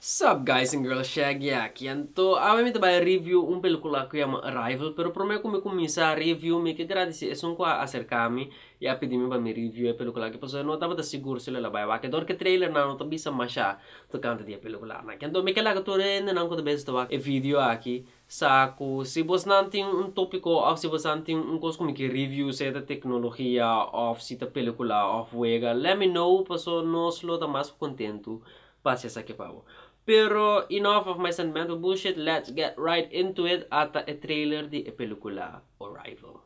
Sup guys and girls Shaggy aki anto awe mi ta bai review un pelikula ku yama Arrival pero prome ku mi kuminsa review mi ke gradisi esun ku a aserka mi i a pidi mi pa mi review e pelikula aki pasobra no tabata sigur si lo el a bai wak dor ke trailernan lo ta bisa masha tokante di e pelikulanan aki anto mi ke laga tur e hendenan ku ta bisa ta wak e video aki Sa cu si bosnan tin un topico of si bosan tin un cos cu mi ke review sea ta tecnologia of si ta pelicula of wega let me know paso nos lo ta mas cu contento pa haci esaki pa bo. Pero enough of my sentimental bullshit let's get right into it ata e trailer di e pelicula Arrival.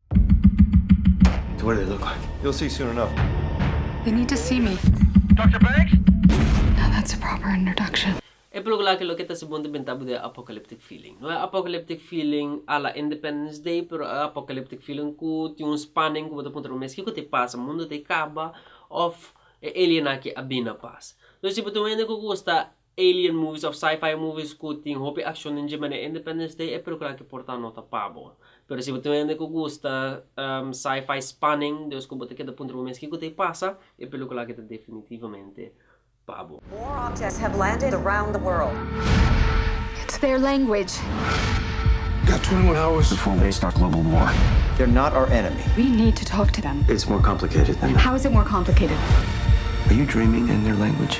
E pelíkula aki loke ta hasi bon ta benta bo di e apocalyptic feeling. No e apocalyptic feeling a la Independence Day, pero e apocalyptic feeling cu tin un spanning cu bo ta puntra bo mes kico ta e pasa, mundo ta e caba of e alien aki a bini na pasa. Entonces si bo tin un hende cu gusta Alien movies of sci-fi movies cu tin hopi accionnan dje manera Independence Day e peliculanan ki por ta nota pa bo. Pero si bo tin un hende cu gusta sci-fi spanning dus cu bo ta keda puntra bo mes kico ta e pasa, e pelicula aki ta definitivamente pa bo. More objects have landed around the world. It's their language. You got 21 hours before they start global war. They're not our enemy. We need to talk to them. It's more complicated than that. How is it more complicated? Are you dreaming in their language?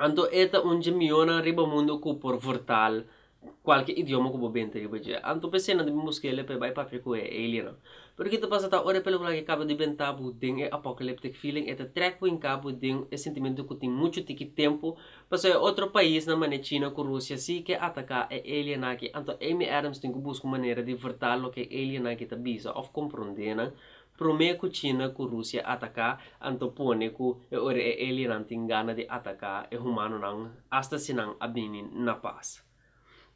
Anto e ta un dje mionnan riba mundu ku por vortal kualke idioma ku bo benta riba dje. Anto p'esei nan ta bin buska el e p'e bai papia ku e aliennan. Pero kiko ta pasa ta ora e pelukula aki kaba di benta bo den e apocalyptic feeling, e ta trek bo hinka bo den e sentimentu ku tin muchu tiki tempu, pasobra e otro paisnan mane China ku Rusia si ke ataka e aliennan aki. Anto Amy Adams tin ku buska un manera di vortal loke e aliennan aki ta bisa òf kompronde nan Promé ku China ku Rusia ataká, anto pone ku e ora e alienan tin gana di ataká e humanonan asta si nan a bini na pas.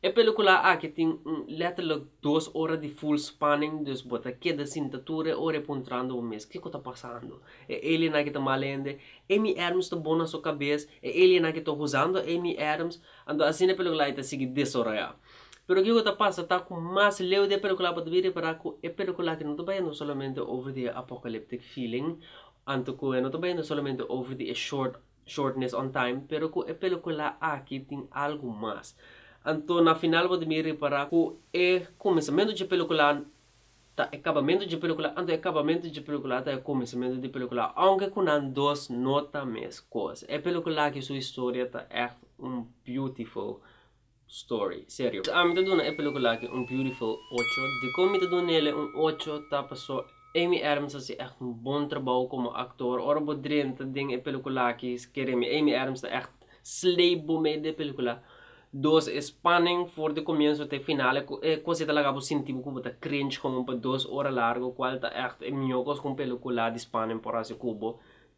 E pelikulá aki tin un lèterlik dos ora di full spanning, dus bo ta keda sinta tur e ora i puntrando bo mes, kiko ta pasando? E alien aki ta mal hende? Amy Adams ta bon na su kabes? E alien aki ta huzando Amy Adams? Anto asina e pelikulá ei ta sigui desaroyá. Pero kiko ta pasa ta ku mas leu di e pelikula bo ta bin repará ku e pelikula aki no ta bayando solamente over di e apokalíptic feeling anto ku e no ta bayando solamente over di e short shortness on time pero ku e pelikula aki tin algu mas. Anto na final bo ta bin repará ku e kuminsamentu dje pelikula ta e kabamentu dje pelikula anto e kabamentu dje pelikula ta e kuminsamentu di pelikula ounke ku nan dos no ta mes kos. E pelikula aki su historia ta ègt un beautiful. story serio ta ami ta duna e pelicula aki un beautiful ocho dikon mi ta duna nele un ocho ta paso Amy Adams ta haci echt un bon trabou como actor ora bo drenta den e pelicula aki kere mi Amy Adams ta echt slay bo mei de pelicula dos e spanning for de comienzo te final e cos ei ta laga bo sinti bo cu bo ta cringe como pa dos ora largo cual ta echt e mior cos cu un pelicula di spanning por haci cubo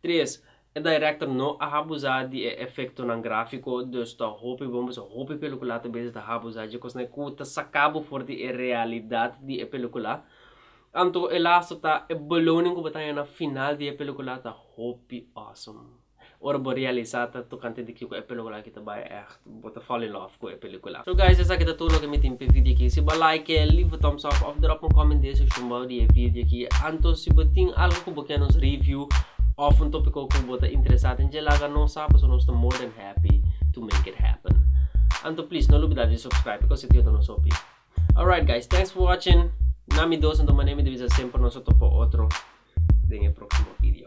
tres E director no a habuza di e efectonan grafico, dus ta hopi bon pasobra hopi pelicula ta bezi ta habuza dje cosnan cu ta saca bo for di e realidad di e pelicula. Anto e laster ta e beloning cu bo ta haña na final di e pelicula ta hopi awesome. Ora bo realisa ta tocante di kico e pelicula aki ta bay echt. Bo ta fall in love cu e pelicula. So guys esaki ta tur loke mi tin p'e video aki. Si bo a like, leave a thumbs up of drop un comment di e seccion bao di e video aki. Anto si bo tin algo cu bo kier nos review of un topico cu bo ta interesa den dje laga nos sa pasobra nos ta more than happy to make it happen. Anto please no lubida di subscribe because e yuda nos hopi. Alright guys thanks for watching na mi dos anto mane mi ta bisa semper nos ta topa otro den e proximo video.